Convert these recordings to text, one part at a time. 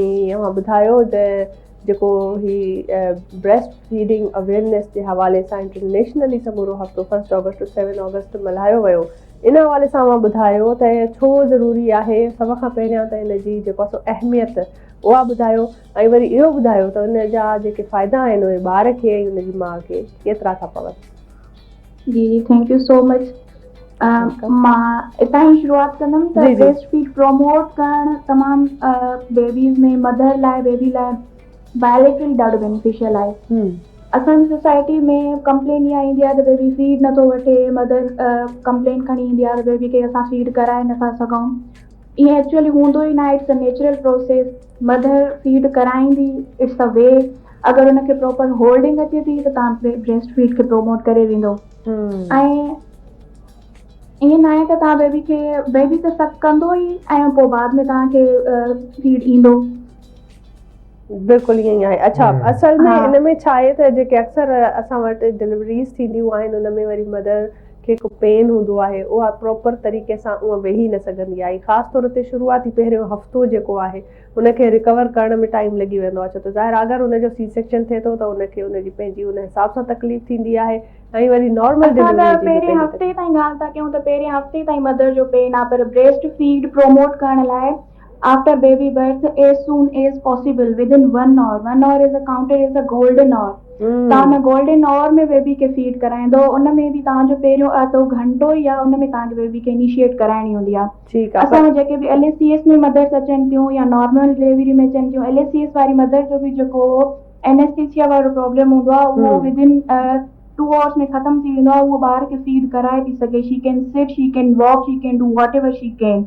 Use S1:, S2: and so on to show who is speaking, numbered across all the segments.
S1: جيئن اوهان ٻڌايو ته جيڪو هي بريسٽ فيڊنگ اويرنيس جي حوالي سان انٽرنيشنلي سمورو هفتو first August to seven August ملهايو ويو ان حوالي سان اوهان ٻڌايو ته ڇو ضروري آهي سڀ کان پهريان ته ان جي جيڪو سو اهميت اها ٻڌايو ۽ وري اهو ٻڌايو ته ان جا جيڪي فائدا آهن اهي ٻار کي ۽ ان جي ماء کي ڪيترا ٿا پون. جي جي ٿينڪ يو
S2: سو مچ مان اتان ئي شروعات ڪندم ته بريسٽ فيڊ پروموٽ ڪرڻ تمام بيبيز ۾ مدر لاء بيبي لاء بائليٽرل ڏاڍو بينيفيشل آهي اسان جي سوسائٽي ۾ ڪمپلين اها ايندي آهي ته بيبي فيڊ نٿو وٺي مدر ڪمپلين کڻي ايندي آهي ته بيبي کي اسان فيڊ ڪرائي نٿا سگهون ائين ايڪچولي هوندو ئي ناهي it's a natural process mother feed ڪرائيندي اٽس ا وي اگر ان کي پراپر هولڊنگ اچي ٿي ته تان بريسٽ فيڊ کي پروموٽ ڪري ويندو ۽ ائين ناهي ته تان بيبي کي بيبي ته سڪ ڪندو ئي ۽ پوء بعد ۾ تان کي فيڊ ايندو بلڪل
S1: ائين آهي اڇا اصل ۾ ان ۾ ڇا آهي ته جيڪي اڪثر اسان وٽ ڊليوريز ٿينديون آهن ان ۾ وري مڌر کي هڪ پين هوندو آهي اها پراپر طريقي سان اونء ويهي نه سگهندي آهي خاص طور تي شروعاتي پهريون هفتو جيڪو آهي ان کي ريڪور ڪرڻ ۾ ٽائيم لڳي ويندو آهي ڇو ته ظاهر آهي اگر ان جو سي سيڪشن ٿئي ٿو ته ان کي ان جي پنهنجي ان حساب سان تڪليف ٿيندي آهي ۽ وري نارمل ڊليوري جي به پنهنجي تڪليف اسان اگر پهرين هفتي
S2: تائين ڳالهه ٿا ڪيون ته پهرين هفتي تائين مدر جو پين آهي پر بريسٽ فيڊ پروموٽ ڪرڻ لاء After baby birth as soon as possible within one hour one hour is a counted as a golden hour توهان ان گولڊن آور ۾ بيبي کي فيڊ ڪرائيندو ان ۾ به توهان جو پهريون اڌو گهنٽو يا ان ۾ توهان کي بيبي کي انيشيئيٽ ڪرائڻي هوندي آهي اسان وٽ جيڪي به L A C S ۾ mothers اچن ٿيون يا نارمل ڊليوري ۾ اچن ٿيون ايل اي سي ايس واري مدر جو به جيڪو انيسٽيسيا وارو پرابلم هوندو آهي اهو ودن ٽو آورس ۾ ختم ٿي ويندو آهي هوء ٻار کي فيڊ ڪرائي ٿي سگهي she can sit she can walk she can do whatever she can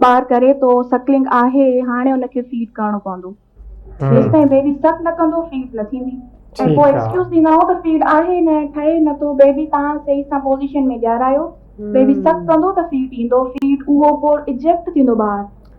S2: ٻار ڪري ٿو سڪلنگ آهي هاڻي ان کي فيڊ ڪرڻو پوندو جيستائين بيبي سڪ نه ڪندو فيڊ نه ٿيندي ۽ پوء ايڪسڪيوز ڏيندا آهيون ته فيڊ آهي نه ٺهي نه ٿو بيبي تان صحيح سان پوزيشن ۾ ڏيارايو بيبي سڪ ڪندو ته فيڊ ايندو فيڊ اهو پوء اجيڪٽ ٿيندو ٻار